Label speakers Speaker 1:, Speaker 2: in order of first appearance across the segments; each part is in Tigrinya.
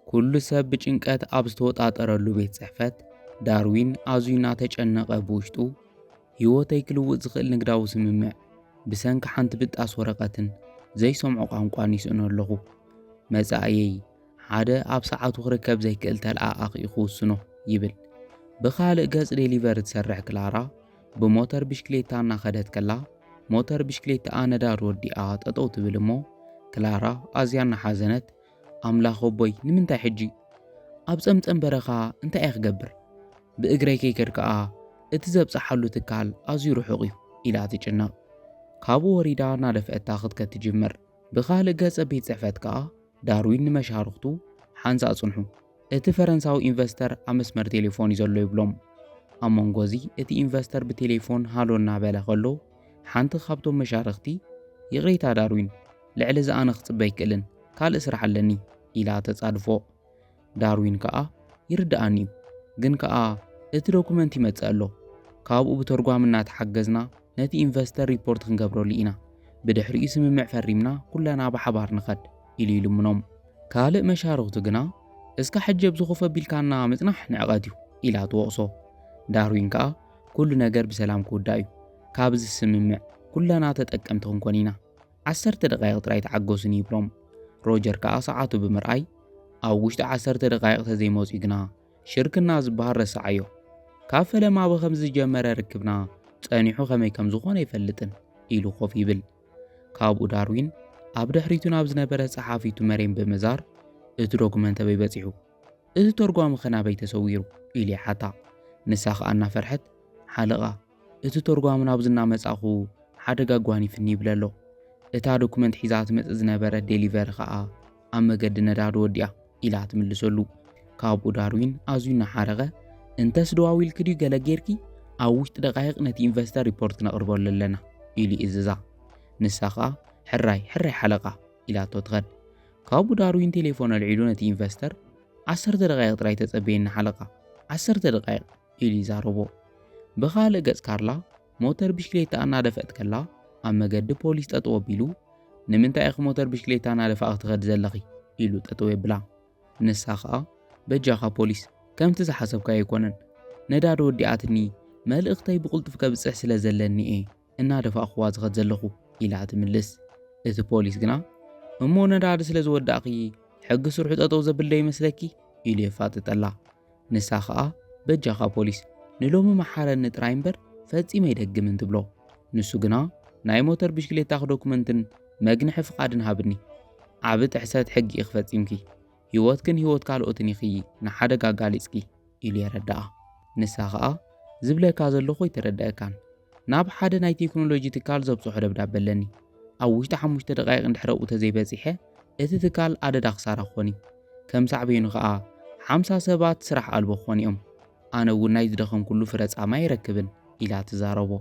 Speaker 1: ኩሉ ሰብ ብጭንቀት ኣብ ዝተወጣጠረሉ ቤት ጽሕፈት ዳርዊን ኣዝዩ እናተጨነቐ ብውሽጡ ህይወተይ ክልውጥ ዝኽእል ንግዳዊ ስምምዕ ብሰንኪ ሓንቲ ብጣስ ወረቐትን ዘይሰምዖ ቋንቋን ይስእኖ ኣለኹ። መጻእየይ ሓደ ኣብ ሰዓቱ ክርከብ ዘይክእል ተለኣኣኺ ክውስኖ ይብል። ብኻልእ ገጽ ዴሊቨር ትሰርሕ ክላራ ብሞተር ብሽክሌታ እናኸደት ከላ ሞተር ብሽክሌታኣ ነዳድ ወዲኣ ጠጠው ትብል እሞ ክላራ ኣዝያ እናሓዘነት ኣምላኽ ኣቦይ ንምንታይ ሕጂ ኣብ ጸምጸም በረኻ እንታይ እየ ክገብር ብእግረይ ከይከድ ከኣ እቲ ዘብጽሓሉ ትካል ኣዝዩ ርሑቕ እዩ ኢላ ትጭነቕ ካብኡ ወሪዳ እናደፍአታ ክትከድ ትጅምር ብኻልእ ገጸ ቤት ጽሕፈት ከኣ ዳርዊን ንመሻርኽቱ ሓንሳእ ጽንሑ፣ እቲ ፈረንሳዊ ኢንቨስተር ኣብ መስመር ቴሌፎን እዩ ዘሎ ይብሎም። ኣብ መንጎ እዚ እቲ ኢንቨስተር ብቴሌፎን ሃሎ እናበለ ከሎ ሓንቲ ካብቶም መሻርኽቲ ይቕሬታ ዳርዊን፣ ልዕሊ እዚ ኣነ ክጽበ ኣይክእልን፣ ካልእ ስራሕ ኣለኒ ኢላ ተጻድፎ። ዳርዊን ከኣ ይርድኣኒ እዩ ግን ከኣ እቲ ዶኩመንት ይመጽእ ኣሎ ካብኡ ብተርጓም እናተሓገዝና ነቲ ኢንቨስተር ሪፖርት ክንገብረሉ ኢና ብድሕሪኡ ስምምዕ ፈሪምና ኩለና ብሓባር ንኸድ ኢሉ ይልምኖም ካልእ መሻርኽቱ ግና እስካ ሕጂ ኣብዚ ኮፍ ኣቢልካና ምጽናሕ ንዕቀት እዩ ኢላ ትወቕሶ። ዳርዊን ከኣ ኩሉ ነገር ብሰላም ክውዳእ እዩ፣ ካብዚ ስምምዕ ኩለና ተጠቀምቲ ክንኮን ኢና፣ ዓሰርተ ደቓይቕ ጥራይ ተዓገሱ ንይብሎም። ሮጀር ከኣ ሰዓቱ ብምርኣይ፣ ኣብ ውሽጢ ዓሰርተ ደቓይቕ ተዘይመጽዩ ግና ሽርክና ዝበሃል ረሰዓዮ። ካብ ፈለማ ብኸምዚ ዝጀመረ ርክብና ጸኒሑ ከመይ ከም ዝኾነ ኣይፈልጥን ኢሉ ኮፍ ይብል። ካብኡ ዳርዊን ኣብ ድሕሪቱ ናብ ዝነበረት ጸሓፊቱ መሬም ብምዛር እቲ ዶክመንት ኣበይ በጺሑ? እቲ ተርጓሚ ከ ናበይ ተሰዊሩ? ኢሉ ይሓታ። ንሳ ከኣ እናፈርሐት ሓለቓ እቲ ተርጓሚ ናብዚ እናመጻኹ ሓደጋ ኣጓኒፍኒ ይብል ኣሎ። እታ ዶክመንት ሒዛ ትመጽእ ዝነበረት ዴሊቨሪ ከኣ ኣብ መገዲ ነዳዲ ወዲኣ ኢላ ትምልሰሉ። ካብኡ ዳርዊን ኣዝዩ እናሓረቐ እንተስ ደዋዊልኪ ድዩ ገለ ጌርኪ ኣብ ውሽጢ ደቓይቕ ነቲ ኢንቨስተር ሪፖርት ክነቕርበሉ ኣለና ኢሉ ይእዝዛ። ንሳ ከኣ ሕራይ ሕራይ ሓለቓ ኢላቶ ትኸድ። ካብኡ ዳርዊን ቴሌፎን ኣልዒሉ ነቲ ኢንቨስተር ዓሰርተ ደቓይቕ ጥራይ ተጸበየኒ ሓለቓ ዓሰርተ ደቓይቕ ኢሉ ይዛረቦ። ብኻልእ ገጽ ካርላ ሞተር ብሽክሌታ እናደፍአት ከላ ኣብ መገዲ ፖሊስ ጠጠው ኣቢሉ ንምንታይ ኢኺ ሞተር ብሽክሌታ እናደፋእኺ ትኸዲ ዘለኺ ኢሉ ጠጠው የብላ። ንሳ ኸኣ በጃኻ ፖሊስ ከምቲ ዝሓሰብካዮ ኣይኮነን ነዳዲ ወዲኣትኒ መልእኽተይ ብቕልጡፍ ከብጽሕ ስለ ዘለኒ እየ እናደፋእኩዋ ዝኸድ ዘለኹ ኢላ ትምልስ። እቲ ፖሊስ ግና እሞ ነዳዲ ስለ ዝወዳእኺ ሕጊ ስርሑ ጠጠው ዘብልዶ ይመስለኪ ኢሉ የፋጥጠላ። ንሳ ኸኣ በጃኻ ፖሊስ ንሎሚ መሓረኒ ጥራይ እምበር ፈጺመ ኣይደግምን ትብሎ። ንሱ ግና ናይ ሞተር ብሽክሌታኺ ዶኩመንትን መግንሒ ፍቓድን ሃብኒ፣ ዓቢ ጥሕሰት ሕጊ ኢኺ ፈጺምኪ፣ ህይወትክን ህይወት ካልኦትን ኢኺ ንሓደጋ ኣጋሊጽኪ ኢሉ የረድኣ። ንሳ ኸኣ ዝብለካ ዘለኹ ኣይተረድኣካን። ናብ ሓደ ናይ ቴክኖሎጂ ትካል ዘብጽሖ ደብዳበ ኣለኒ። ኣብ ውሽጢ ሓሙሽተ ደቓይቕ እንድሕር ኣብኡ ተዘይበጺሐ እቲ ትካል ኣደዳ ክሳራ ክኾን እዩ። ከም ሳዕቤኑ ኸኣ ሓምሳ ሰባት ስራሕ ኣልቦ ክኾኑ እዮም። ኣነ እውን ናይ ዝደኸምኩሉ ፍረ ጻማ ኣይረክብን ኢላ ትዛረቦ።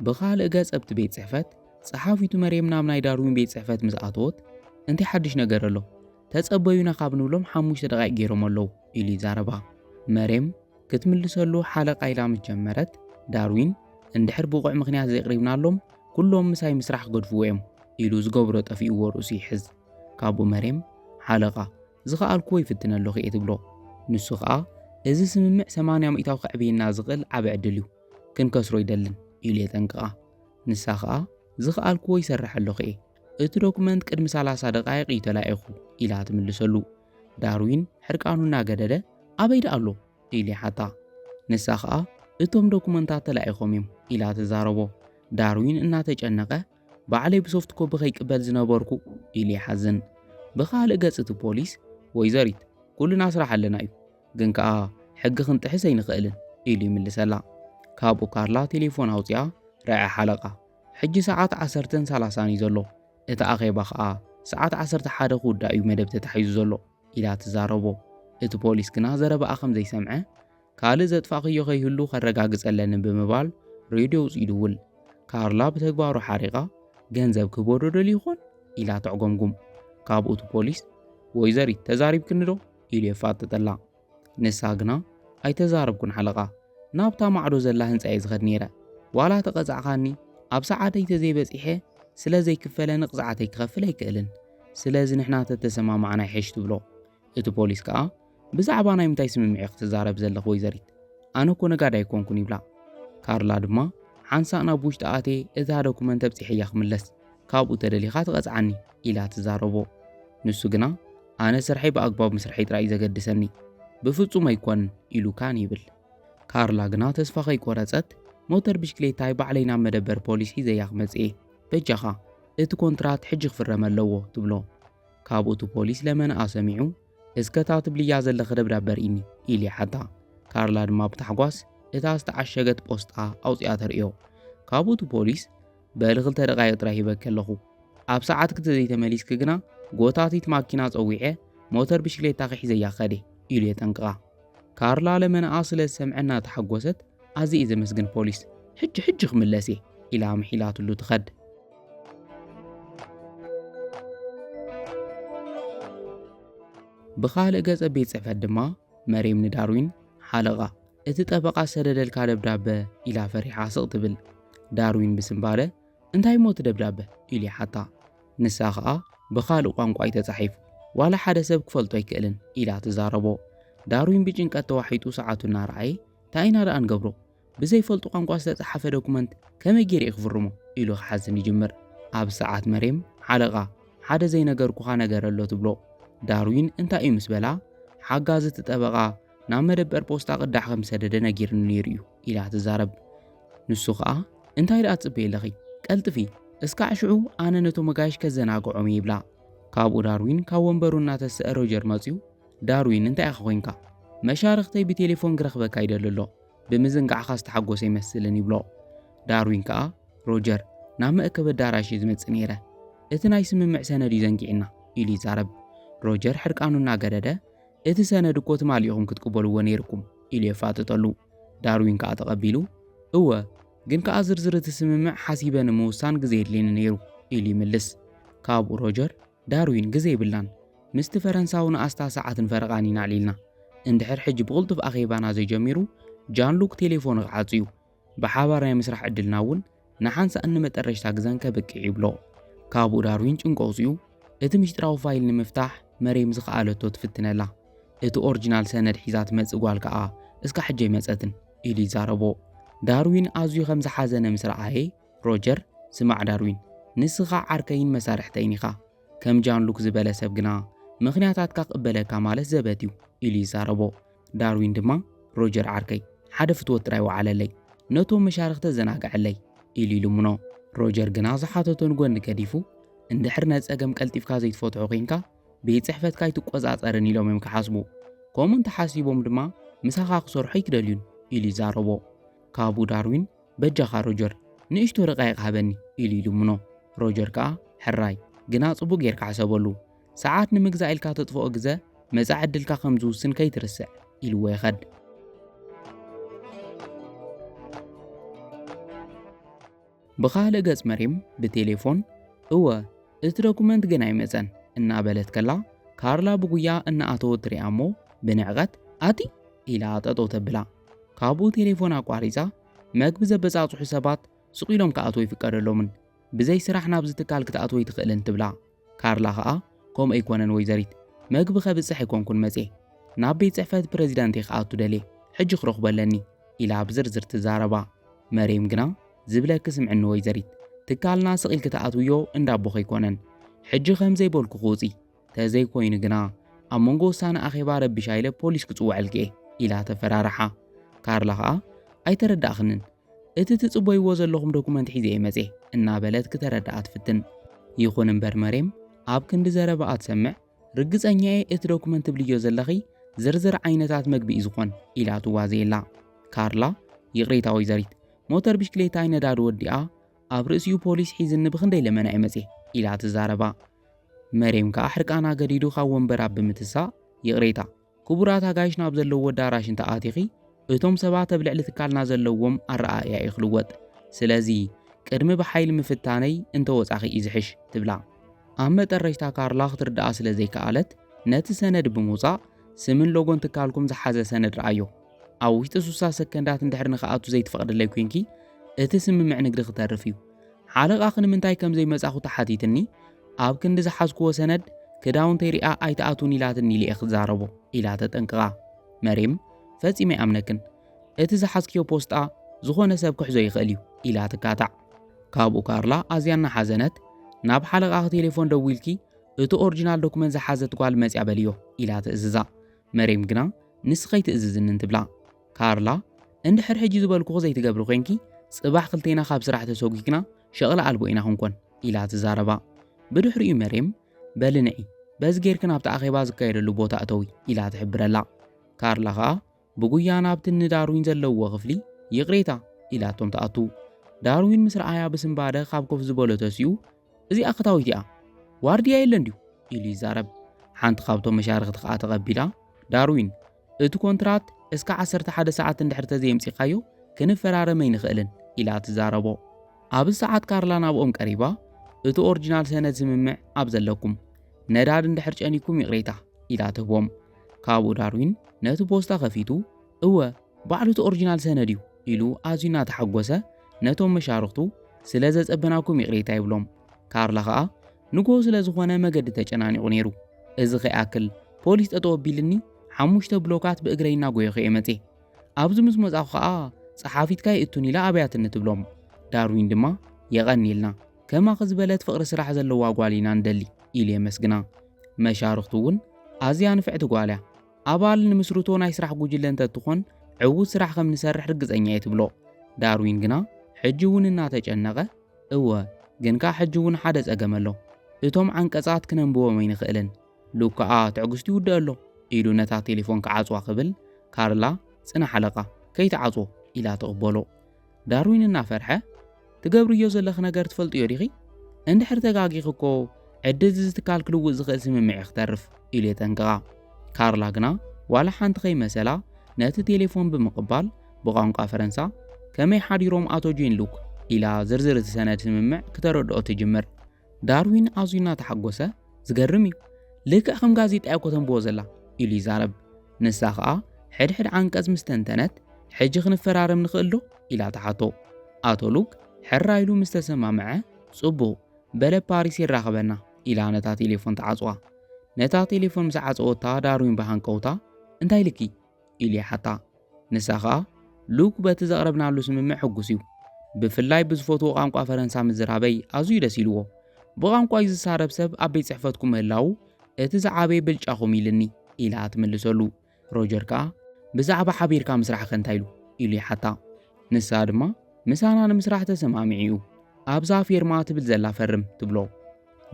Speaker 1: ብኻልእ ገጽ ኣብቲ ቤት ጽሕፈት ጸሓፊቱ መርየም ናብ ናይ ዳርዊን ቤት ጽሕፈት ምስ ኣተወት እንታይ ሓድሽ ነገር ኣሎ ተጸበዩና ካብ ንብሎም ሓሙሽተ ደቓይቅ ገይሮም ኣለዉ ኢሉ ይዛረባ መርየም ክትምልሰሉ ሓለቓ ኢላ ምስ ጀመረት ዳርዊን እንድሕር ብቑዕ ምኽንያት ዘይቕሪብናሎም ኩሎም ምሳይ ምስራሕ ክገድፍዎ እዮም ኢሉ ዝገብሮ ጠፊእዎ ርእሱ ይሕዝ ካብኡ መርየም ሓለቓ ዝኸኣልክዎ ይፍትነ ኣለኹ እየ ትብሎ ንሱ ኸኣ እዚ ስምምዕ 80 ሚእታዊ ከዕብየና ዝኽእል ዓብ ዕድል እዩ ክንከስሮ ይደልን ኢሉ የጠንቅቓ ንሳ ኸኣ ዝኸኣልክዎ ይሰርሐሎኽ'የ፣ እቲ ዶክመንት ቅድሚ ሰላሳ ደቓይቕ እዩ ተላኢኹ ኢላ ትምልሰሉ። ዳርዊን ሕርቃኑ እናገደደ ኣበይ ደኣ ኣሎ? ኢሉ ይሓታ። ንሳ ኸኣ እቶም ዶክመንታት ተላኢኾም እዮም ኢላ ትዛረቦ። ዳርዊን እናተጨነቐ ባዕለይ ብሶፍት ኮቢ ከይቅበል ዝነበርኩ ኢሉ ይሓዝን። ብኻልእ ገጽ እቲ ፖሊስ ወይዘሪት ኩልና ስራሕ ኣለና እዩ፣ ግን ከኣ ሕጊ ክንጥሕስ ኣይንኽእልን ኢሉ ይምልሰላ። ካብኡ ካርላ ቴሌፎን ኣውጺኣ ረዐ ሓለቃ ሕጂ ሰዓት ዓሰርተን ሰላሳን እዩ ዘሎ እቲ ኣኼባ ከኣ ሰዓት ዓሰርተ ሓደ ክውዳእ እዩ መደብ ተታሒዙ ዘሎ ኢላ ትዛረቦ። እቲ ፖሊስ ግና ዘረባኣ ከም ዘይሰምዐ ካልእ ዘጥፋእክዮ ከይህሉ ከረጋግጸ ኣለኒ ብምባል ሬድዮ ውጽኡ ይድውል። ካርላ ብተግባሩ ሓሪቓ ገንዘብ ክህቦ ዶ ደልዩ ይኾን ኢላ ተዕጎምጉም። ካብኡ እቲ ፖሊስ ወይዘሪት ተዛሪብክኒ ዶ ኢሉ የፋጥጠላ ንሳ ግና ኣይተዛረብኩን ሓለቓ ናብታ ማዕዶ ዘላ ህንፃ እየ ዝኸድ ነይረ ዋላ ተቐፃዕኻኒ ኣብ ሰዓተይ ተዘይበፂሐ ስለ ዘይክፈለ ንቕፅዓተይ ክኸፍል ኣይክእልን ስለዚ ንሕና ተተሰማማዕና ይሐሽ ትብሎ እቲ ፖሊስ ከዓ ብዛዕባ ናይ ምንታይ ስምምዕ ክትዛረብ ዘለኽ ወይዘሪት ኣነ እኮ ነጋዳ ኣይኮንኩን ይብላ ካርላ ድማ ሓንሳእ ናብ ውሽጢ ኣቴ እታ ዶኩመንት ኣብፂሐያ ክምለስ ካብኡ ተደሊኻ ትቐፅዓኒ ኢላ ትዛረቦ ንሱ ግና ኣነ ስርሐይ ብኣግባቡ ምስርሐይ ጥራይ እዩ ዘገድሰኒ፣ ብፍጹም ኣይኰንን ኢሉ ካን ይብል። ካርላ ግና ተስፋ ከይቈረጸት፣ ሞተር ብሽክሌታይ ባዕለይ ናብ መደበር ፖሊስ ሒዘያ ክመጽእ'የ፣ በጃኻ እቲ ኰንትራት ሕጂ ክፍረም ኣለዎ፣ ትብሎ። ካብኡ እቲ ፖሊስ ለመናኣ ሰሚዑ፣ እስከ እታ ትብልያ ዘለኺ ደብዳበ ኣርእይኒ፣ ኢሉ ይሓታ። ካርላ ድማ ብታሕጓስ እታ ዝተዓሸገት ጶስጣ ኣውጺኣ ተርእዮ። ካብኡ እቲ ፖሊስ፣ በሊ ክልተ ደቓይቕ ጥራይ ሂበኪ ኣለኹ። ኣብ ሰዓትኪ ተዘይተመሊስኪ ግና ጎታቲት ማኪና ጸዊዐ ሞተር ብሽክሌታኺ ሒዘያ ከደ ኢሉ የጠንቅቓ። ካርላ ለመናኣ ስለ ዝሰምዐ እናተሓጎሰት ኣዝየ እየ ዘመስግን ፖሊስ፣ ሕጂ ሕጂ ክምለስ እየ ኢላ ኣምሒላትሉ ትኸድ። ብኻልእ ገጸ ቤት ጽሕፈት ድማ መሬም ንዳርዊን ሓለቓ እቲ ጠበቓ ዝሰደደልካ ደብዳበ? ኢላ ፈሪሓ ስቕ ትብል። ዳርዊን ብስንባደ፣ እንታይ እሞ እቲ ደብዳበ? ኢሉ ይሓታ። ንሳ ኸኣ፣ ብኻልእ ቋንቋ'ዩ ተጻሒፉ፣ ዋላ ሓደ ሰብ ክፈልጦ ኣይክእልን፣ ኢላ ትዛረቦ። ዳርዊን ብጭንቀት ተዋሒጡ ሰዓቱ እናረኣየ፣ እንታይ ኢና ደኣ ንገብሮ? ብዘይፈልጦ ቋንቋ ዝተጻሓፈ ዶክመንት ከመይ ገይረ'የ ክፍርሞ? ኢሉ ክሓዝን ይጅምር። ኣብዚ ሰዓት መሬም፣ ሓለቓ፣ ሓደ ዘይነገርኩኻ ነገር ኣሎ፣ ትብሎ። ዳርዊን እንታይ'ዩ ምስ በላ፣ ሓጋዚ እቲ ጠበቓ፣ ናብ መደበር ፖስታ ቅዳሕ ከም ዝሰደደ ነጊርኒ ነይሩ እዩ ኢላ ትዛረብ ንሱ ኸኣ እንታይ ደኣ ትጽበይ ኣለኺ ቀልጥፊ እስካዕ ሽዑ ኣነ ነቶም መጋይሽ ከዘናግዖም እየ ይብላ ካብኡ ዳርዊን ካብ ወንበሩ እናተስአ ሮጀር መፅዩ ዳርዊን እንታይ ኢኻ ኮንካ መሻርኽተይ ብቴሌፎን ክረኽበካ ይደሊ ኣሎ ብምዝንጋዕኻ ዝተሓጎሰ ይመስልን ይብሎ ዳርዊን ከኣ ሮጀር ናብ መእከብ ኣዳራሽ እዩ ዝመፅእ ነይረ እቲ ናይ ስምምዕ ሰነድ እዩ ዘንጊዕና ኢሉ ይዛረብ ሮጀር ሕርቃኑ እናገደደ እቲ ሰነድ እኮ ትማሊ ኢኹም ክትቅበልዎ ነይርኩም ኢሉ የፋጥጠሉ። ዳርዊን ከኣ ተቐቢሉ እወ ግን ከኣ ዝርዝር እቲ ስምምዕ ሓሲበ ንምውሳን ግዜ የድልየኒ ነይሩ ኢሉ ይምልስ። ካብኡ ሮጀር ዳርዊን ግዜ የብልናን ምስቲ ፈረንሳዊ ንኣስታ ሰዓትን ፈረቓን ኢና ኣዕሊልና እንድሕር ሕጂ ብቕልጡፍ ኣኼባና ዘይጀሚሩ ጃን ሉክ ቴሌፎኑ ክዓጹ እዩ ብሓባር ናይ ምስራሕ ዕድልና እውን ንሓንሳእን ንመጠረሽታ ግዘን ከብቅዕ ይብሎ። ካብኡ ዳርዊን ጭንቆ ኣውፂኡ እቲ ምሽጥራዊ ፋይል ንምፍታሕ መሬም ዝኸኣለቶ ትፍትነላ። እቲ ኦርጅናል ሰነድ ሒዛ ትመፅእ ጓል ከዓ እስካ ሕጂ ኣይመፀትን ኢሉ ይዛረቦ። ዳርዊን ኣዝዩ ከም ዝሓዘነ ምስ ረኣየ ሮጀር ስማዕ ዳርዊን ንስኻ ዓርከይን መሳርሕተይን ኢኻ። ከም ጃን ሉክ ዝበለ ሰብ ግና ምኽንያታትካ ክቕበለካ ማለት ዘበት እዩ ኢሉ ይዛረቦ። ዳርዊን ድማ ሮጀር ዓርከይ ሓደ ፍትወት ጥራይ ወዓለለይ፣ ነቶም መሻርኽተ ዘናግዐለይ ኢሉ ይልምኖ። ሮጀር ግና ዝሓተቶ ንጎኒ ገዲፉ፣ እንድሕር ነዚ ጸገም ቀልጢፍካ ዘይትፈትሖ ኴንካ ቤት ጽሕፈትካ ኣይትቆጻጸርን ኢሎም እዮም ክሓስቡ። ከምኡ እንተሓሲቦም ድማ ምሳኻ ክሰርሑ ኣይክደልዩን ኢሉ ይዛረቦ። ካብኡ ዳርዊን በጃኻ ሮጀር ንእሽቶ ደቓይቕ ሃበኒ ኢሉ ይልምኖ። ሮጀር ከኣ ሕራይ፣ ግና ጽቡቕ ጌርካ ሕሰበሉ፣ ሰዓት ንምግዛእ ኢልካ ተጥፍኦ ግዘ መጻኢ ዕድልካ ከም ዝውስን ከይትርስዕ ኢልዎ ይኸድ። ብኻልእ ገጽ መሪም ብቴሌፎን እወ እቲ ዶኩመንት ግን ኣይመጸን እናበለት ከላ ካርላ ብጉያ እናኣተወት ትሪኣ እሞ ብንዕቐት ኣቲ ኢላ ጠጠው ተብላ ካብኡ ቴሌፎን ኣቋሪፃ መግቢ ዘበፃፅሑ ሰባት ስቕ ኢሎም ክኣትዎ ይፍቀደሎምን ብዘይ ስራሕ ናብዚ ትካል ክትኣትወ ይትኽእልን ትብላ ካርላ ከኣ ከምኡ ኣይኮነን ወይዘሪት፣ መግቢ ከብጽሕ ኣይኮንኩን መጽየ፣ ናብ ቤት ጽሕፈት ፕረዚዳንት'የ ክኣቱ ደልየ፣ ሕጂ ክረኽቦ ኣለኒ ኢላ ብዝርዝር ትዛረባ። መሬም ግና ዝብለኪ ስምዕኒ ወይዘሪት፣ ትካልና ስቕ ኢልኪ ትኣትውዮ እንዳ ኣቦኺ ኣይኮነን፣ ሕጂ ከም ዘይበልኩኺ ውጺ፣ ተዘይኮይኑ ግና ኣብ መንጎ ውሳነ ኣኼባ ረቢሻ ኢለ ፖሊስ ክጽውዐልኪ'የ ኢላ ተፈራርሓ። ካርላ ከኣ ኣይተረዳእክንን፣ እቲ ትጽበይዎ ዘለኹም ዶኩመንት ሒዘ እየ መጼ እናበለት ክተረድኣ ትፍትን። ይኹን እምበር መሬም ኣብ ክንዲ ዘረባኣ ትሰምዕ ርግጸኛ እየ እቲ ዶኩመንት ትብልዮ ዘለኺ ዝርዝር ዓይነታት መግቢ እዩ ዝኾን ኢላ ትዋዘየላ። ካርላ ይቕሬታ ወይዘሪት ሞተር ብሽክሌታይ ነዳዲ ወዲኣ ኣብ ርእሲኡ ፖሊስ ሒዝኒ ብኽንደይ ለመና እየ መጼ ኢላ ትዛረባ። መሬም ከኣ ሕርቃና ገዲዱ ካብ ወንበራ ብምትሳእ ይቕሬታ። ክቡራት ኣጋይሽና ኣብ ዘለዎ ኣዳራሽ እንተ ኣቲኺ እቶም ሰባት ኣብ ልዕሊ ትካልና ዘለዎም ኣረኣእያ እዩ ክልወጥ ስለዚ ቅድሚ ብሓይሊ ምፍታነይ እንተ ወጻኺ እዩ ዝሕሽ ትብላ ኣብ መጠረሽታ ካርላ ክትርድኣ ስለ ዘይከኣለት ነቲ ሰነድ ብምውጻእ ስምን ሎጎን ትካልኩም ዝሓዘ ሰነድ ረኣዮ ኣብ ውሽጢ ስሳ ሰከንዳት እንድሕር ንክኣቱ ዘይትፈቕድለይ ኮንኪ እቲ ስምምዕ ንግዲ ክተርፍ እዩ ሓለቓኺ ንምንታይ ከም ዘይመጻኹ ተሓቲትኒ ኣብ ክንዲ ዝሓዝክዎ ሰነድ ክዳውንተይ ሪኣ ኣይትኣቱን ኢላትኒ ኢለ ክዛረቦ ኢላ ተጠንቅቓ። መሬም ፈጺመ ኣይኣምነክን እቲ ዝሓዝክዮ ፖስጣ ዝኾነ ሰብ ክሕዞ ይኽእል እዩ ኢላ ትካታዕ። ካብኡ ካርላ ኣዝያ እናሓዘነት ናብ ሓለቓኺ ቴሌፎን ደዊልኪ እቲ ኦሪጂናል ዶክመንት ዝሓዘት ጓል መጽያ በልዮ ኢላ ትእዝዛ። መሬም ግና ንስ ከይትእዝዝንን ትብላ። ካርላ እንድሕር ሕጂ ዝበልኩኺ ዘይትገብሪ ኮንኪ ጽባሕ ክልቴና ካብ ስራሕ ተሰጒግና ሸቕሊ ኣልቦ ኢና ክንኮን ኢላ ትዛረባ። ብድሕሪኡ መሬም በሊ ንዒ፣ በዚ ጌርኪ ናብቲ ኣኼባ ዝካየደሉ ቦታ እተዊ ኢላ ትሕብረላ። ካርላ ከኣ ብጉያ ናብቲ እኒ ዳርዊን ዘለውዎ ክፍሊ ይቕሬታ ኢላቶም ትኣቱ። ዳርዊን ምስ ረኣያ ብስንባደ ካብ ኮፍ ዝበሎ ተሲኡ እዚኣ ክታዊት እያ ዋርድያ የለን ድዩ ኢሉ ይዛረብ። ሓንቲ ካብቶም መሻርኽቲ ከኣ ተቐቢላ ዳርዊን እቲ ኮንትራት እስከ ዓሰርተ ሓደ ሰዓት እንድሕር ተዘየምጺኻዮ ክንፈራረም ኣይንኽእልን ኢላ ትዛረቦ። ኣብዚ ሰዓት ካርላ ናብኦም ቀሪባ እቲ ኦርጅናል ሰነድ ስምምዕ ኣብ ዘለኩም ነዳድ እንድሕር ጨኒኩም ይቕሬታ ኢላ ትህቦም። ካብኡ ዳርዊን ነቲ ፖስታ ከፊቱ እወ ባዕሉ እቲ ኦርጅናል ሰነድ እዩ ኢሉ ኣዝዩ እናተሓጎሰ ነቶም መሻርኽቱ ስለ ዘጸበናኩም ይቕሬታ ይብሎም። ካርላ ከኣ ንግሆ ስለ ዝኾነ መገዲ ተጨናኒቑ ነይሩ። እዚ ከይኣክል ፖሊስ ጠጠው ኣቢልኒ ሓሙሽተ ብሎካት ብእግረይ እናጎየኹ እየ መፅየ። ኣብዚ ምስ መፃኹ ከዓ ፀሓፊትካ ይእቱን ኢላ ኣብያትኒ ትብሎም። ዳርዊን ድማ የቐንየልና ከማኺ ዝበለት ፍቕሪ ስራሕ ዘለዋ ጓል ኢና ንደሊ ኢሉ የመስግና። መሻርኽቱ እውን ኣዝያ ንፍዕቲ ጓል እያ፣ ኣባል ንምስርቶ ናይ ስራሕ ጉጅለ እንተትኾን ዕዉት ስራሕ ከም ንሰርሕ ርግፀኛ እየ ትብሎ። ዳርዊን ግና ሕጂ እውን እናተጨነቐ እወ፣ ግን ከኣ ሕጂ እውን ሓደ ጸገም ኣሎ። እቶም ዓንቀጻት ክነንብቦም ኣይንኽእልን። ሉክ ከኣ ትዕግስቱ ይውድእ ኣሎ። ኢሉ ነታ ቴሌፎን ክዓጽዋ ክብል፣ ካርላ፣ ጽናሕ ኣለቃ፣ ከይትዓጽዎ፣ ኢላ ተቕበሎ። ዳርዊን እናፈርሐ፣ ትገብርዮ ዘለኺ ነገር ትፈልጥዮ ዲኺ? እንድሕር ተጋጊኺ እኮ ዕድል'ዚ ትካል ክልውጥ ዝኽእል ስምምዕ'ዩ ክተርፍ፣ ኢሉ የጠንቅቓ። ካርላ ግና ዋላ ሓንቲ ከይመሰላ ነቲ ቴሌፎን ብምቕባል፣ ብቋንቋ ፈረንሳ ከመይ ሓዲሮም ኣቶ ጂን ሉክ ኢላ ዝርዝር እቲ ሰነድ ስምምዕ ክተረድኦ ትጅምር። ዳርዊን ኣዝዩ እናተሓጎሰ ዝገርም እዩ፣ ልክዕ ከም ጋዜጣ እኮ ተንብቦ ዘላ ኢሉ ይዛረብ። ንሳ ከኣ ሕድሕድ ዓንቀጽ ምስ ተንተነት ሕጂ ክንፈራረም ንኽእል ዶ ኢላ ትሓቶ። ኣቶ ሉክ ሕራ ኢሉ ምስ ተሰማምዐ ጽቡቕ በለ ፓሪስ የራኽበና ኢላ ነታ ቴሌፎን ትዓጽዋ። ነታ ቴሌፎን ምስ ዓጸወታ ዳርዊን ብሃንቀውታ እንታይ ኢልኪ ኢሉ ይሓታ። ንሳ ከኣ ሉክ በቲ ዘቕረብናሉ ስምምዕ ሕጉስ እዩ። ብፍላይ ብዝፈትዎ ቋንቋ ፈረንሳ ምዝራበይ ኣዝዩ ደስ ኢልዎ። ብቋንቋይ ዝሳረብ ሰብ ኣብ ቤት ጽሕፈትኩም ምህላዉ እቲ ዝዓበየ ብልጫኹም ኢልኒ ኢላ ትምልሰሉ። ሮጀር ከኣ ብዛዕባ ሓቢርካ ምስራሕኸ እንታይ ኢሉ? ኢሉ ይሓታ። ንሳ ድማ ምሳና ንምስራሕ ተሰማሚዑ እዩ። ኣብዛ ፌርማ ትብል ዘላ ፈርም ትብሎ።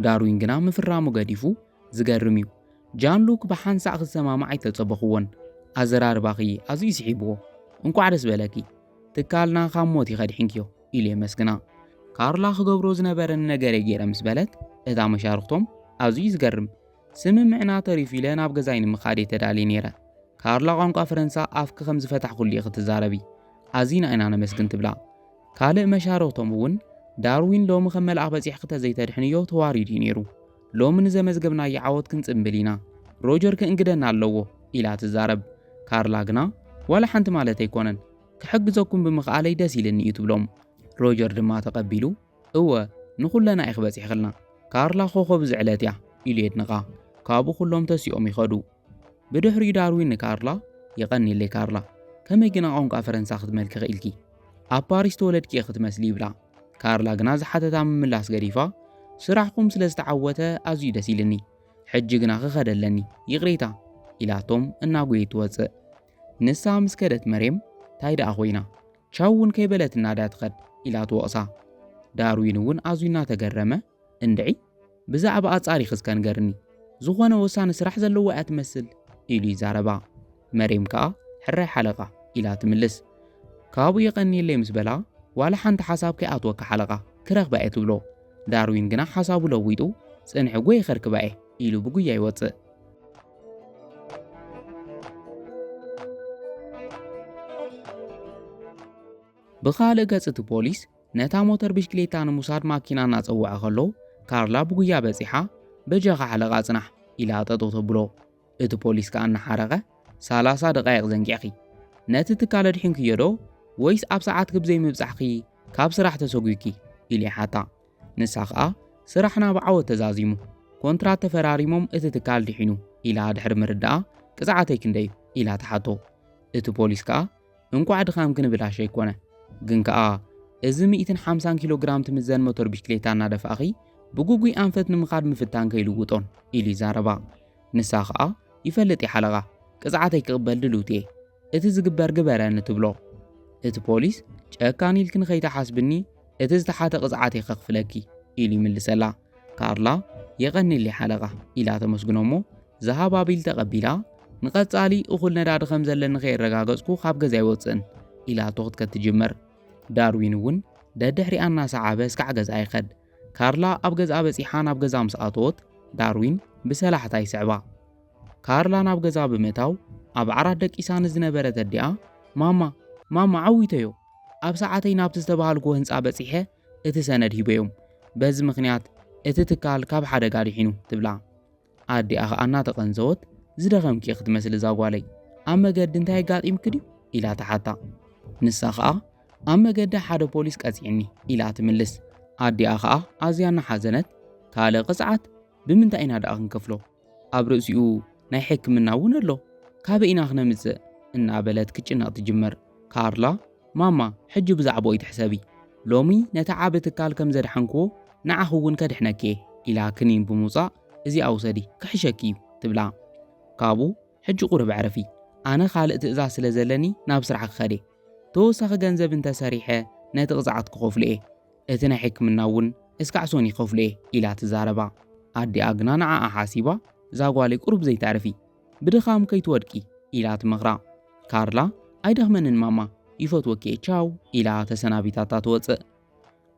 Speaker 1: ዳርዊን ግና ምፍራሙ ገዲፉ ዝገርም እዩ ጃንሉክ ብሓንሳእ ክሰማማዕ ኣይተጸበኽዎን ኣዘራርባኺ ኣዝዩ ስሒብዎ እንቋዕ ደስ በለኪ ትካልና ካብ ሞት ይኸድሕንኪዮ ኢሉ የመስግና ካርላ ክገብሮ ዝነበረኒ ነገረ ገይረ ምስ በለት እታ መሻርኽቶም ኣዝዩ ዝገርም ስምምዕና ተሪፉ ኢለ ናብ ገዛይ ንምኻድ እየ ተዳልየ ነይረ ካርላ ቋንቋ ፈረንሳ ኣፍኪ ከም ዝፈታሕኩሉ ኢኺ ትዛረቢ ኣዚና ኢና ነመስግን ትብላ ካልእ መሻርኽቶም እውን ዳርዊን ሎሚ ከም መልኣኽ በጺሕኪ ተዘይተድሕንዮ ተዋሪዱ እዩ ነይሩ ሎሚ ንዘመዝገብናዮ ዓወት ክንጽምብል ኢና፣ ሮጀር ክእንግደና ኣለዎ ኢላ ትዛረብ። ካርላ ግና ዋላ ሓንቲ ማለተይ ኣይኮነን፣ ክሕግዘኩም ብምኽኣለይ ደስ ኢልኒ እዩ ትብሎም። ሮጀር ድማ ተቐቢሉ እወ ንኹለና ኢኺ በጺሕክልና፣ ካርላ ኮኾብ እዚ ዕለት እያ ኢሉ የድንቓ። ካብኡ ኩሎም ተሲኦም ይኸዱ። ብድሕሪኡ ዳርዊን ንካርላ የቐንየለይ ካርላ፣ ከመይ ግና ቋንቋ ፈረንሳ ክትመልኪ ክኢልኪ? ኣብ ፓሪስ ዝተወለድኪ ኢኺ ትመስሊ ይብላ። ካርላ ግና ዝሓተታ ምምላስ ገዲፋ ስራሕኹም ስለ ዝተዓወተ ኣዝዩ ደስ ኢልኒ፣ ሕጂ ግና ክኸደ ኣለኒ ይቕሬታ ኢላቶም እናጎየት ትወጽእ። ንሳ ምስ ከደት መሬም ታይ ደኣ ኮይና ቻው እውን ከይበለትና ድያ ትኸድ ኢላ ትወቕሳ። ዳርዊን እውን ኣዝዩ እናተገረመ እንድዒ ብዛዕባኣ ኣጻሪኺ እስከ ንገርኒ፣ ዝኾነ ወሳኒ ስራሕ ዘለዋ እያ ትመስል ኢሉ ይዛረባ። መሬም ከኣ ሕራይ ሓለቓ ኢላ ትምልስ። ካብኡ የቐንየለይ ምስ በላ ዋላ ሓንቲ ሓሳብ ከይኣትወካ ሓለቓ ክረኽባ እየ ትብሎ። ዳርዊን ግና ሓሳቡ ለዊጡ ጽንሒ ጎየ ከርክባ እየ ኢሉ ብጉያ ይወጽእ። ብኻልእ ገጽ እቲ ፖሊስ ነታ ሞተር ብሽክሌታ ንምውሳድ ማኪና እናጸውዐ ከሎ ካርላ ብጉያ በጺሓ በጃኻ ሓለቓ ጽናሕ ኢላ ጠጠው ተብሎ። እቲ ፖሊስ ከኣ እናሓረቐ ሰላሳ ደቓይቕ ዘንጊዕኺ ነቲ ትካል ኣድሒንክዮ ዶ ወይስ ኣብ ሰዓትኪ ብዘይምብጻሕኺ ካብ ስራሕ ተሰጒግኪ ኢሉ ይሓታ። ንሳ ከኣ ስራሕና ብዓወት ተዛዚሙ ኮንትራት ተፈራሪሞም እቲ ትካል ድሒኑ ኢላ ድሕሪ ምርዳኣ ቅጽዓተይ ክንደይ እዩ ኢላ ትሓቶ። እቲ ፖሊስ ከኣ እንቋዕ ድኻም ክንብላሽ ኣይኮነ ግን ከኣ እዚ ሚእትን ሓምሳን ኪሎ ግራም ትምዘን ሞተር ብሽክሌታ እናደፋእኺ ብጉጉይ ኣንፈት ንምኻድ ምፍታን ከይልውጦን ኢሉ ይዛረባ። ንሳ ከኣ ይፈልጥ እየ ሓለቓ ቅጽዓተይ ክቕበል ድልውቲ እየ እቲ ዝግበር ግበረኒ ትብሎ። እቲ ፖሊስ ጨካን ኢልኪ ንኸይትሓስብኒ እቲ ዝተሓተ ቅጽዓት እየ ከኽፍለኪ ኢሉ ይምልሰላ። ካርላ የቐኒሊ ሓለቓ ኢላ ተመስግኖሞ ዝሃባቢል ተቐቢላ ንቐጻሊ እኹል ነዳዲ ከም ዘለኒ ከየረጋገጽኩ ካብ ገዛ ኣይወጽእን ኢላቶ ክትከት ትጅመር ዳርዊን እውን ደድሕሪኣ እናሰዓበ እስካዕ ገዛ ይኸድ ካርላ ኣብ ገዛ በጺሓ ናብ ገዛ ምስ ኣተወት ዳርዊን ብሰላሕታ ይስዕባ ካርላ ናብ ገዛ ብምእታው ኣብ ዓራት ደቂሳ ንዝነበረት ኣዲኣ ማማ ማማ ዓዊተዮ ኣብ ሰዓተይ ናብቲ ዝተባሃልኩዎ ህንፃ በጺሐ እቲ ሰነድ ሂበዮም። በዚ ምኽንያት እቲ ትካል ካብ ሓደጋ ድሒኑ ትብላ። ኣዲኣ ኸኣ እናተቐንዘወት ዝደኸምኪ ኢኺ ትመስሊ እዛ ጓለይ፣ ኣብ መገዲ እንታይ ኣጋጢምኪ ድዩ? ኢላ ትሓታ። ንሳ ኸኣ ኣብ መገዲ ሓደ ፖሊስ ቀጺዕኒ ኢላ ትምልስ። ኣዲኣ ኸኣ ኣዝያ እናሓዘነት ካልእ ቅጽዓት ብምንታይ ኢና ደኣ ክንከፍሎ? ኣብ ርእሲኡ ናይ ሕክምና እውን ኣሎ ካበይ ኢና ክነምፅእ እናበለት ክትጭነቕ ትጅምር ካርላ ማማ ሕጂ ብዛዕባኡ ኣይትሕሰቢ ሎሚ ነቲ ዓቢ ትካል ከም ዘድሓንክዎ ንዓኺ እውን ከድሕነኪ እየ ኢላ ክኒን ብምውፃእ እዚኣ ውሰዲ ክሕሸኪ እዩ ትብላ ካብኡ ሕጂ ቁርብ ዕረፊ ኣነ ካልእ ትእዛዝ ስለ ዘለኒ ናብ ስራሕ ክኸድ እየ ተወሳኺ ገንዘብ እንተሰሪሐ ነቲ ቅፅዓት ክኸፍሎ እየ እቲ ናይ ሕክምና እውን እስካዕ ሶኒ ክኸፍሎ'የ ኢላ ትዛረባ። ኣዲኣ ግና ንዓኣ ሓሲባ ዛጓለይ ቁሩብ ዘይተዕርፊ፣ ብድኻም ከይትወድቂ ኢላ ትመኽራ። ካርላ ኣይደኽመንን ማማ ይፈትወኪ'የ ቻው ኢላ ተሰናቢታታ ትወጽእ።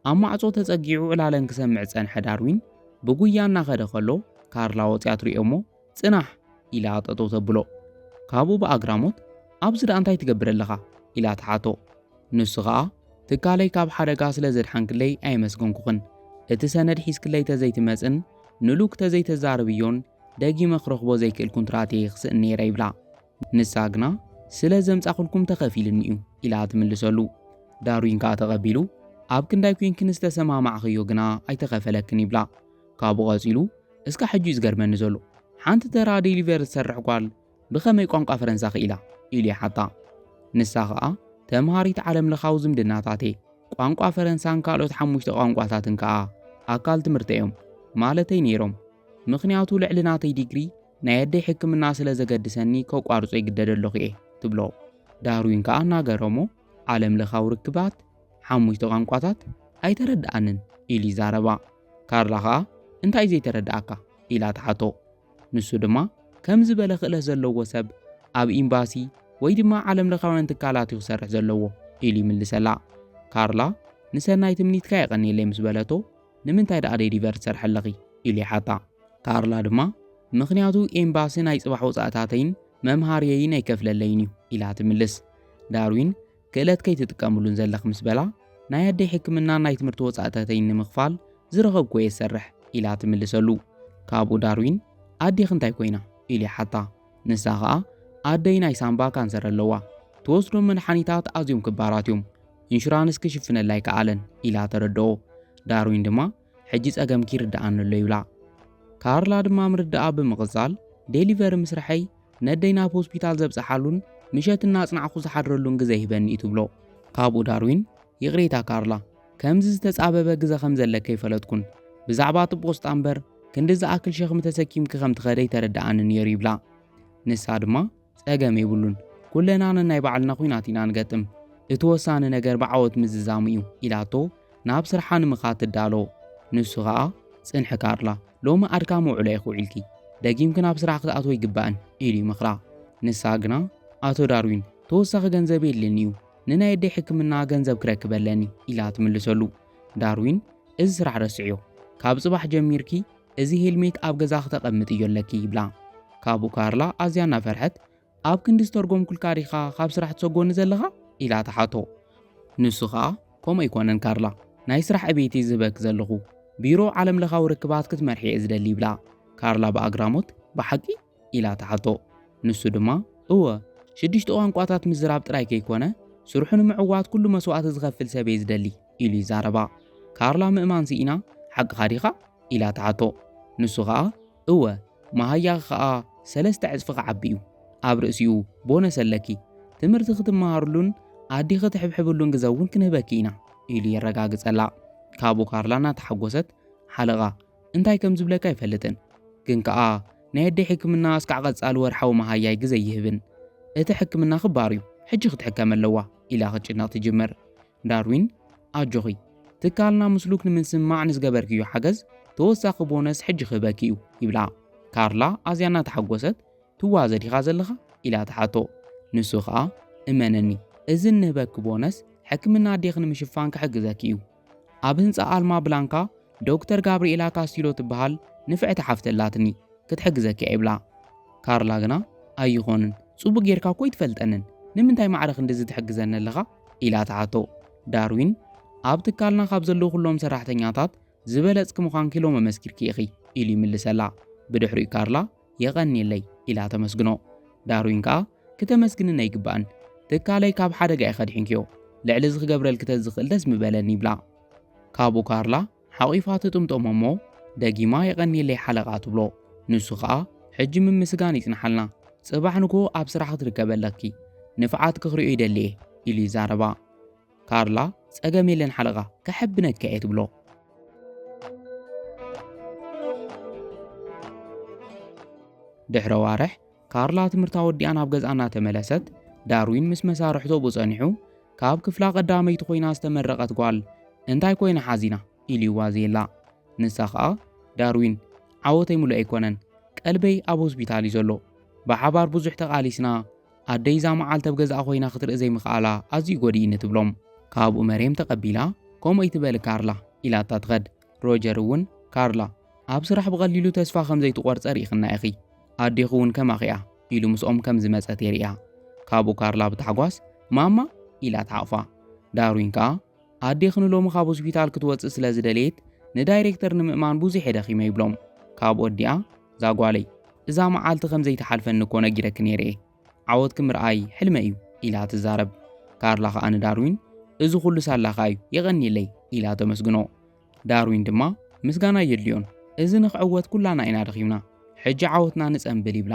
Speaker 1: ኣብ ማዕጾ ተጸጊዑ ዕላለን ክሰምዕ ዝጸንሐ ዳርዊን ብጉያ እናኸደ ከሎ ካርላ ወጽያ ትሪኦ'ሞ ጽናሕ ኢላ ጠጠው ተብሎ። ካብኡ ብኣግራሞት ኣብዚ ደኣ እንታይ ትገብር ኣለኻ ኢላ ትሓቶ። ንሱ ኸኣ ትካለይ ካብ ሓደጋ ስለ ዘድሓንክለይ ኣየመስገንኩኽን፣ እቲ ሰነድ ሒዝክለይ ተዘይትመጽን ንሉክ ተዘይተዛርብዮን ደጊመ ክረኽቦ ዘይክእል ኩንትራት እየ ክስእን ነይረ ይብላ። ንሳ ግና ስለ ዘምጻኹልኩም ተኸፊሉኒ'ዩ ኢላ ትምልሰሉ። ዳርዊን ከኣ ተቐቢሉ ኣብ ክንዳይ ኮይንክን ዝተሰማማዕኽዮ ግና ኣይተኸፈለክን ይብላ። ካብኡ ቀጺሉ እስካዕ ሕጂ እዩ ዝገርመኒ ዘሎ ሓንቲ ተራ ዴሊቨር ዝሰርሕ ጓል ብኸመይ ቋንቋ ፈረንሳ ክኢላ ኢሉ ይሓታ ንሳ ኸኣ ተምሃሪት ዓለም ለኻዊ ዝምድናታት እየ ቋንቋ ፈረንሳን ካልኦት ሓሙሽተ ቋንቋታትን ከኣ ኣካል ትምህርቲ እዮም ማለተይ ነይሮም ምኽንያቱ ልዕሊ ናተይ ዲግሪ ናይ ኣደይ ሕክምና ስለ ዘገድሰኒ ከቋርጾ ይግደደ ኣለኹ እየ ትብሎ ዳርዊን ከኣ እናገረሞ ዓለም ለኻዊ ርክባት ሓሙሽተ ቋንቋታት ኣይተረድኣንን ኢሉ ይዛረባ ካርላ ኸኣ እንታይ ዘይተረድኣካ ኢላ ትሓቶ። ንሱ ድማ ከም ዝበለ ክእለት ዘለዎ ሰብ ኣብ ኤምባሲ ወይ ድማ ዓለም ለኻውያን ትካላት እዩ ክሰርሕ ዘለዎ ኢሉ ይምልሰላ። ካርላ ንሰናይ ትምኒትካ የቐንየለይ ምስ በለቶ ንምንታይ ደኣ ዴሊቨር ትሰርሐ ኣለኺ ኢሉ ይሓታ። ካርላ ድማ ምኽንያቱ ኤምባሲ ናይ ጽባሕ ወጻእታተይን መምሃርየይን ኣይከፍለለይን እዩ ኢላ ትምልስ። ዳርዊን ክእለት ከይትጥቀምሉን ዘለኽ ምስ በላ፣ ናይ ኣደይ ሕክምናን ናይ ትምህርቲ ወጻእታተይን ንምኽፋል ዝረኸብኩዎ እየ ዝሰርሕ ኢላ ትምልሰሉ። ካብኡ ዳርዊን ኣዴኺ እንታይ ኮይና? ኢሉ ይሓታ። ንሳ ኸኣ ኣደይ ናይ ሳንባ ካንሰር ኣለዋ፣ ትወስዶም መድሓኒታት ኣዝዮም ክባራት እዮም፣ ኢንሹራንስ ክሽፍነላ ኣይከኣለን ኢላ ተረድኦ። ዳርዊን ድማ ሕጂ ጸገምኪ ይርድኣኒ ኣሎ ይብላ። ካርላ ድማ ምርድኣ ብምቕጻል፣ ዴሊቨሪ ምስርሐይ ነደይ ናብ ሆስፒታል ዘብጽሓሉን ምሸት እናጽናዕኩ ዝሓድረሉን ግዘ ይህበኒ እዩ ትብሎ። ካብኡ ዳርዊን፣ ይቕሬታ ካርላ፣ ከምዚ ዝተጻበበ ግዘ ከም ዘለኪ ኣይፈለጥኩን። ብዛዕባ እቲ ጶስጣ እምበር ክንዲ ዝኣክል ሸኽሚ ተሰኪምኪ ከም ትኸዲ ኣይተረድኣንን ነይሩ ይብላ። ንሳ ድማ፣ ጸገም የብሉን፣ ኩልና ነናይ ባዕልና ኲናት ኢና ንገጥም፣ እቲ ወሳኒ ነገር ብዓወት ምዝዛሙ እዩ ኢላቶ ናብ ስርሓ ንምኻድ ትዳሎ። ንሱ ከኣ ጽንሒ ካርላ፣ ሎሚ ኣድካሚ ውዕሎ ኢኺ ውዒልኪ፣ ደጊምኪ ናብ ስራሕ ክትኣትዊ ኣይግባእን ኢሉ ይመኽራ። ንሳ ግና ኣቶ ዳርዊን ተወሳኺ ገንዘብ የድልየኒ'ዩ፣ ንናይ ኣደይ ሕክምና ገንዘብ ክረክብ ኣለኒ ኢላ ትምልሰሉ። ዳርዊን እዚ ስራሕ ረስዕዮ፣ ካብ ጽባሕ ጀሚርኪ እዚ ሄልሜት ኣብ ገዛ ክተቐምጥ እዮ ኣለኪ ይብላ። ካብኡ ካርላ ኣዝያ እናፈርሐት ኣብ ክንዲ ዝተርጎምኩልካ ዲኻ ካብ ስራሕ ትሰጎኒ ዘለኻ ኢላ ተሓቶ። ንሱ ኸኣ ከምኡ ኣይኮነን ካርላ ናይ ስራሕ ዕብየት እየ ዝህበኪ ዘለኹ ቢሮ ዓለም ለኻዊ ርክባት ክትመርሒ እየ ዝደሊ ይብላ። ካርላ ብኣግራሞት ብሓቂ ኢላ ትሓቶ። ንሱ ድማ፣ እወ፣ ሽዱሽተ ቋንቋታት ምዝራብ ጥራይ ከይኰነ፣ ስርሑ ንምዕዋት ኵሉ መስዋእቲ ዝኸፍል ሰብ'የ ዝደሊ፣ ኢሉ ይዛረባ። ካርላ ምእማን ስኢና፣ ሓቅኻ ዲኻ? ኢላ ትሓቶ። ንሱ ኸኣ፣ እወ፣ መሃያኺ ኸኣ ሰለስተ ዕጽፊ ክዓቢ'ዩ። ኣብ ርእሲኡ፣ ቦነስ ኣለኪ። ትምህርቲ ክትመሃርሉን ኣዲኺ ትሕብሕብሉን ግዘ'ውን ክንህበኪ ኢና፣ ኢሉ የረጋግጸላ። ካብኡ ካርላ እናተሓጐሰት፣ ሓለቓ፣ እንታይ ከም ዝብለካ ኣይፈልጥን፣ ግን ከኣ ናይ ኣደይ ሕክምና እስካዕ ቀጻሊ ወርሓዊ መሃያይ ግዘ ኣይህብን። እቲ ሕክምና ክባር እዩ፣ ሕጂ ክትሕከም ኣለዋ ኢላ ክትጭነቕ ትጅምር። ዳርዊን ኣጆኺ፣ ትካልና ምስ ሉክ ንምስምማዕ ንዝገበርክዮ ሓገዝ ተወሳኺ ቦነስ ሕጂ ክህበኪ እዩ ይብላ። ካርላ ኣዝያ እናተሓጎሰት ትዋዘ ዲኻ ዘለኻ ኢላ ትሓቶ። ንሱ ከኣ እመነኒ እዚ እንህበኪ ቦነስ ሕክምና ኣዴኺ ንምሽፋን ክሕግዘኪ እዩ ኣብ ህንጻ ኣልማ ብላንካ ዶክተር ጋብርኤላ ካስቲሎ ትበሃል ንፍዕቲ ሓፍቲ ኣላትኒ ክትሕግዘኪ እያ ይብላ። ካርላ ግና ኣይኾንን ጽቡቕ ጌርካ እኮ ኣይትፈልጠንን ንምንታይ ማዕረ ክንድዚ ትሕግዘኒ ኣለኻ ኢላ ትሓቶ። ዳርዊን ኣብ ትካልና ካብ ዘለዉ ኩሎም ሰራሕተኛታት ዝበለጽኪ ምዃንኪ ሎሚ መስኪርኪ ኢኺ ኢሉ ይምልሰላ። ብድሕሪኡ ካርላ የቐንየለይ ኢላ ተመስግኖ። ዳርዊን ከኣ ክተመስግንን ኣይግባእን፣ ትካለይ ካብ ሓደጋ እየ ከድሒንክዮ፣ ልዕሊ እዚ ክገብረልኪ ተዝኽእል ደስ ምበለኒ ይብላ። ካብኡ ካርላ ሓቚፋ ትጥምጦሞ እሞ ደጊማ የቐንየለይ ሓለቓ ትብሎ። ንሱ ከኣ ሕጂ ምምስጋን ይጽንሓልና፣ ጽባሕ ንግሆ ኣብ ስራሕ ክትርከቢ ኣለኪ፣ ንፍዓትኪ ክርእዮ ይደሊ እየ ኢሉ ይዛረባ። ካርላ ጸገም የለን ሓለቓ ከሐብነካ እየ ትብሎ። ድሕሪ ኣዋርሕ ካርላ ትምህርታ ወዲኣ ናብ ገዝኣ እናተመለሰት ዳርዊን ምስ መሳርሕቶ ብኡ ጸኒሑ ካብ ክፍላ ቀዳመይቲ ኮይና ዝተመረቐት ጓል እንታይ ኮይና ሓዚና ኢሉ ይዋዘየላ። ንሳ ኸኣ ዳርዊን ዓወተይ ምሉእ ኣይኮነን፣ ቀልበይ ኣብ ሆስፒታል እዩ ዘሎ፣ ብሓባር ብዙሕ ተቓሊስና ኣደይ እዛ መዓልቲ ኣብ ገዛኣ ኮይና ክትርኢ ዘይምኽኣላ ኣዝዩ ጎዲእኒ ትብሎም። ካብኡ መርየም ተቐቢላ ከምኡ ኣይትበሊ ካርላ ኢላታ ትኸድ። ሮጀር እውን ካርላ ኣብ ስራሕ ብቐሊሉ ተስፋ ከም ዘይትቖርጸ ርኢኽና ኢኺ፣ ኣዴኺ እውን ከማኺ እያ ኢሉ ምስኦም ከም ዝመጸት የርእያ። ካብኡ ካርላ ብታሕጓስ ማማ ኢላ ትሓቕፋ። ዳርዊን ከኣ ኣዴኺ ንሎሚ ካብ ሆስፒታል ክትወፅእ ስለ ዝደለየት ንዳይሬክተር ንምእማን ብዙሕ እየ ደኺመ ይብሎም። ካብ ወዲኣ እዛ ጓለይ እዛ መዓልቲ ከም ዘይትሓልፈኒ እኮ ነጊረኪ ነይረ እየ፣ ዓወትኪ ምርኣይ ሕልመይ እዩ ኢላ ትዛረብ። ካርላ ከኣ ንዳርዊን እዚ ኹሉ ሳላኻ እዩ የቐንየለይ ኢላ ተመስግኖ። ዳርዊን ድማ ምስጋና የድልዮን እዚ ንክዕወት ኩላና ኢና ደኺምና ሕጂ ዓወትና ንጸንብል ይብላ